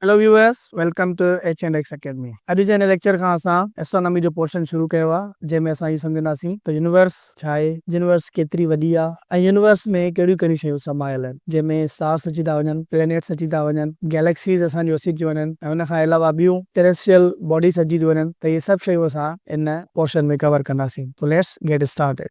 Hello viewers welcome to H and X academy اڄ جي هن ليڪچر کان اسان اسٽرانامي جو پورشن شروع ڪيو آهي جنهن ۾ اسان اهو سمجهنداسين ته يونيورس ڇا آهي يونيورس ڪيتري وڏي آهي ۽ يونيورس ۾ ڪهڙيون ڪهڙيون شيون سمايل آهن جنهن ۾ اسٽارس اچي ٿا وڃن پلينيٽس اچي ٿا وڃن گيليڪسيز اسان جون اچي ٿيون وڃن ۽ ان کان علاوه ٻيون ٽيريسٽريل باڊيز اچي ٿيون وڃن ته اهي سڀ شيون اسان ان پورشن ۾ ڪور ڪنداسين so let's get started.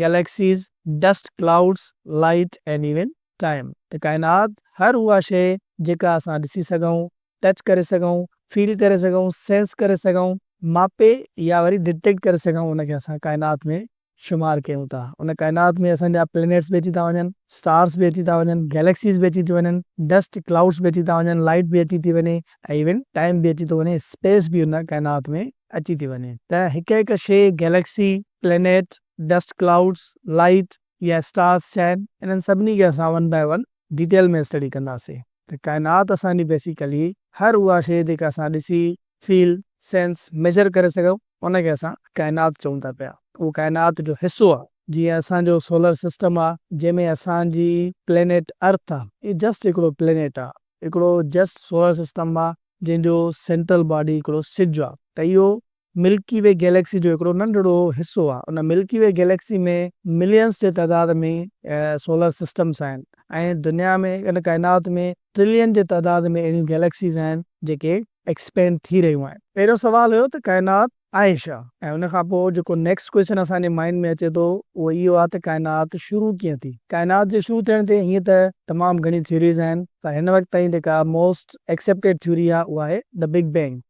Galaxies, dust clouds, light and even time ته ڪائنات هر اها شيء جيڪا اسان ڏسي سگهون، ٽچ ڪري سگهون، فيل ڪري سگهون، سينس ڪري سگهون، ماپي يا وري ڊٽيڪٽ ڪري سگهون ان کي اسان ڪائنات ۾ شمار ڪيون ٿا. ان ڪائنات ۾ اسان جا پلينيٽس به اچي ٿا وڃن، اسٽارز به اچي ٿا وڃن، گئليڪسيز به اچي ٿيون وڃن، ڊسٽ ڪلائوڊز به اچي ٿا وڃن، لائيٽ به اچي ٿي وڃي ۽ ايون ٽائيم به اچي ٿو وڃي، اسپيس به ان ڪائنات ۾ اچي ٿي وڃي ته هڪ هڪ شيء، galaxy, planet, dust clouds, light يا اسٽارز ڇا آهن، انهن سڀني کي اسان one by one detail ۾ study ڪنداسين ته ڪائنات اسان جي بيسيڪلي هر اها شيء جيڪا اسان ڏسي، فيل، سينس، ميجر ڪري سگهون ان کي اسان ڪائنات چئون ٿا پيا اهو ڪائنات جو حصو آهي. جيئن اسان جو سولر سسٽم آهي جنهن ۾ اسان جي پلينيٽ ارٿ آهي اهو جسٽ هڪڙو پلينيٽ آهي هڪڙو جسٽ سولر سسٽم آهي جنهن جو سينٽرل باڊي هڪڙو سج آهي ته اهو ملڪي وي گئليڪسي جو هڪڙو ننڍڙو حصو آهي. ان ملڪي وي گئليڪسي ۾ مليئنس جي تعداد ۾ سولر سسٽمز آهن ۽ دنيا ۾ ان ڪائنات ۾ ٽرلين جي تعداد ۾ اهڙيون گئليڪسيز آهن جيڪي ايڪسپينڊ ٿي رهيون آهن. پهريون سوال هيو ته ڪائنات آهي ڇا؟ ۽ ان کان پوء جيڪو نيڪسٽ ڪوئسچن اسان جي مائنڊ ۾ اچي ٿو اهو اهو آهي ته ڪائنات شروع ڪيئن ٿي؟ ڪائنات جي شروع ٿيڻ تي هيئن ته تمام گهڻيون ٿيوريز آهن پر هن وقت تائين جيڪا موسٽ ايڪسيپٽيڊ ٿيوري آهي اهو آهي The Big Bang.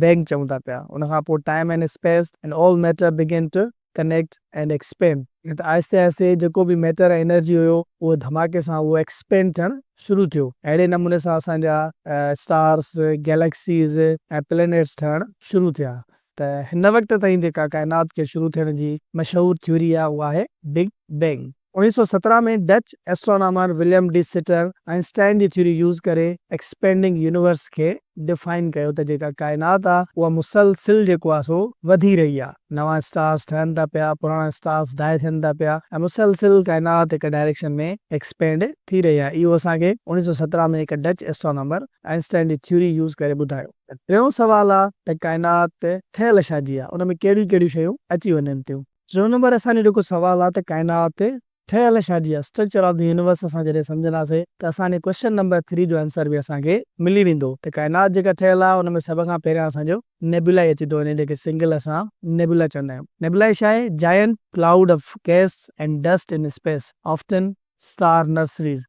بيگ چئون ٿا پيا، ان کان پوء time and space and all matter began to connect and expand ته آهستي آهستي جيڪو به ميٽر ۽ انرجي هيو اهو ڌماڪي سان اهو ايڪسپينڊ ٿيڻ شروع ٿيو اهڙي نموني سان اسان جا اسٽارس، گيليڪسيز ۽ پلينيٽس ٺهڻ شروع ٿيا ته هن وقت تائين جيڪا ڪائنات کي شروع ٿيڻ جي مشهور ٿيوري آهي اهو آهي بگ بينگ. اوڻيهه سؤ سترهن ۾ Dutch astronomer Willem de Sitter Einstein جي ٿيوري يوز ڪري ايڪسپينڊنگ يونيورس کي ڊفائن ڪيو ته جيڪا ڪائنات آ اها مسلسل جيڪو آ سو وڌي رهي آ نوان اسٽارس ٺهن ٿا پيا پراڻا اسٽارس ڊائي ٿين ٿا پيا ۽ مسلسل ڪائنات هڪ ڊائريڪشن ۾ ايڪسپينڊ ٿي رهي آ اهو اسان کي اوڻيهه سؤ سترهن ۾ هڪ ڊچ اسٽرانامر آئن سٽائن جي ٿيوري يوز ڪري ٻڌايو ته ٽيون سوال آ ته ڪائنات ٺهيل ڇا جي آ ان ۾ ڪهڙيون ڪهڙيون شيون اچي وڃن ٿيون. ٽيون نمبر اسان جو جيڪو سوال آ ته ڪائنات تي ٺهيل ڇا جي آ، Structure of the Universe، اسان جڏهن سمجهنداسين ته اسان جي ڪويشچن نمبر ٿري جو آنسر به اسان کي ملي ويندو ته ڪائنات جيڪا ٺهيل آ ان ۾ سڀ کان پهريان اسان جو نيبيولا ئي اچي ٿو وڃي جنهن کي سنگل اسان نيبيولا چوندا آهيون. نيبيولا ڇا آهي؟ Giant cloud of gas and dust in space often star nurseries.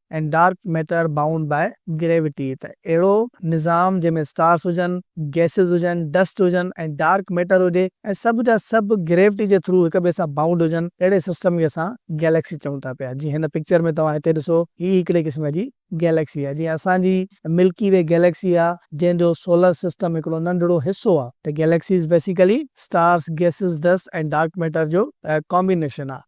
and Dark Matter Bound by Gravity ته اهڙو نظام جنهن ۾ اسٽارس هجن، گئسز هجن، ڊسٽ هجن ۽ ڊارڪ ميٽر هجي ۽ سڀ جا سڀ گريوٽي جي ٿرو هڪ ٻئي سان بائونڊ هجن اهڙي سسٽم کي اسان گئليڪسي چئون ٿا پيا جيئن هن پڪچر ۾ توهان هتي ڏسو هي هڪڙي قسم جي گئليڪسي آهي جيئن اسان جي ملڪي وي گئليڪسي آهي جنهن جو سولر سسٽم هڪڙو ننڍڙو حصو آهي ته galaxies basically stars, gases, dust ۽ dark matter جو ڪامبينيشن آهي.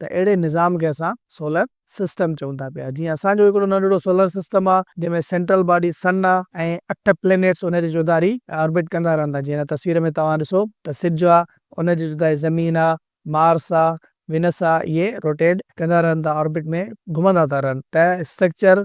ته اهڙي نظام کي اسان سولر سسٽم چئون ٿا پيا. جيئن اسان جو هڪڙو ننڍڙو سولر سسٽم آ جنهن ۾ سينٽرل باڊي سن آ ۽ اٺ پلينيٽس ان جي چوڌاري آربٽ ڪندا رهن ٿا. جيئن هن تصوير ۾ توهان ڏسو ته سج آ ان جي چوڌاري زمين آ، مارس آ، وينس آ اهي روٽيٽ ڪندا رهن ٿا آربٽ ۾ گهمندا ٿا رهن ته structure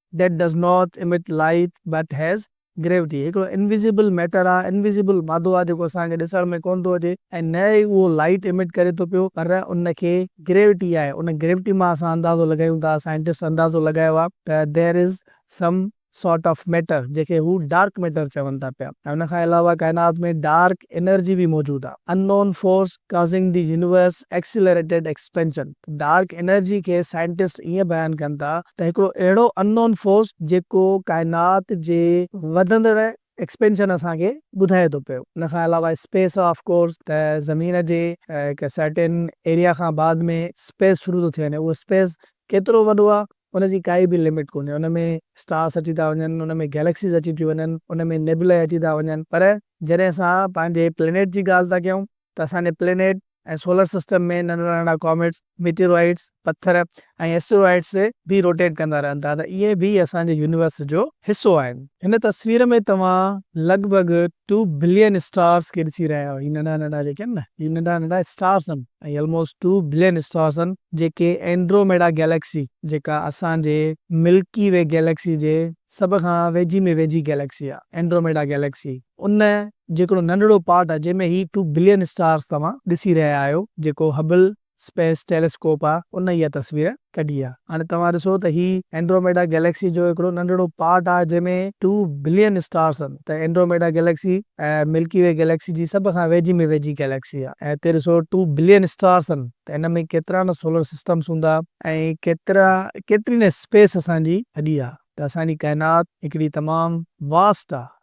That does not emit light but has gravity هڪڙو انويزيبل ميٽر آهي، انويزيبل مادو آهي جيڪو اسان کي ڏسڻ ۾ ڪونه ٿو اچي ۽ نه ئي اهو لائٽ ايمٽ ڪري ٿو پيو پر ان کي گريوٽي آهي ان گريوٽي مان اسان اندازو لڳايون ٿا سائنٽسٽ اندازو لڳايو آهي ته There is some sort of matter جنهن کي هو ڊارڪ ميٽر چون ٿا پيا ۽ ان کان علاوه ڪائنات ۾ ڊارڪ انرجي به موجود آهي Unknown force causing the universe accelerated expansion. Dark energy کي سائنٽسٽ ائين بيان ڪن ٿا ته هڪڙو اهڙو ان نون فورس جيڪو ڪائنات جي وڌندڙ ايڪسپينشن اسان کي ٻڌائي ٿو پيو. ان کان علاوه اسپيس آف ڪورس ته زمين جي هڪ سرٽين ايريا کان بعد ۾ اسپيس شروع ٿو ٿي وڃي اهو اسپيس ڪيترو وڏو آهي ان جي ڪائي به لمٽ ڪونهي ان ۾ اسٽارس اچي ٿا وڃن ان ۾ گيليڪسيز اچي ٿيون وڃن ان ۾ نيبلائي اچي ٿا وڃن پر جڏهن اسان پنهنجي پلينيٽ جي ڳالهه ٿا ڪيون ته اسان جي پلينيٽ ۽ سولر سسٽم ۾ ننڍڙا ننڍڙا ڪاميٽس، ميٽيورائٽس، پٿر ۽ اسٽيروائڊس به روٽيٽ ڪندا رهن ٿا ته اهي به اسان جي يونيورس جو حصو آهن. هن تصوير ۾ توهان لڳ ڀڳ ٽو بلين اسٽارس کي ڏسي رهيا آهيو. هي ننڍا ننڍا جيڪي آهن نه هي ننڍا ننڍا اسٽارس آهن ۽ الموسٽ ٽو بلين اسٽارس آهن جيڪي اينڊروميڊا گيليڪسي جيڪا اسان جي ملڪي وي گيليڪسي جي سڀ کان ويجهي ۾ ويجهي گيليڪسي آهي اينڊروميڊا گيليڪسي. ان جو هڪڙو ننڍڙو پارٽ آهي جنهن ۾ هي ٽو بلين اسٽارز توهان ڏسي رهيا آهيو جيڪو هبل اسپيس ٽيليسڪوپ آهي ان اها تصوير ڪڍي آهي هاڻي توهان ڏسو ته هي اينڊروميڊا گيليڪسي جو هڪڙو ننڍڙو پارٽ آهي جنهن ۾ ٽو بلين اسٽارز آهن ته Andromeda galaxy Milky Way galaxy جي سڀ کان ويجهي ۾ ويجهي گيليڪسي آهي ۽ هتي ڏسو ٽو بلين اسٽارز آهن ته ان ۾ ڪيترا نه سولر سسٽمز هوندا ۽ ڪيترا ڪيتري نه اسپيس اسان جي وڏي آهي ته اسان جي ڪائنات هڪڙي تمام واسٽ آهي.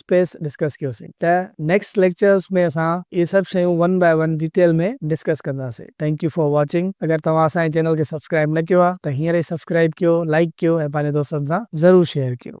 اسپيس ڊسڪس ڪيوسين ته نيڪسٽ ليڪچرس ۾ اسان اهي سڀ شيون one by one detail ۾ discuss ڪنداسين ٿينڪ يو فار واچنگ اگر توهان اسان جي چينل کي سبسڪرائب نه ڪيو آهي ته هينئر ئي سبسڪرائب ڪيو لائڪ ڪيو ۽ پنهنجي دوستن سان ضرور شيئر ڪيو.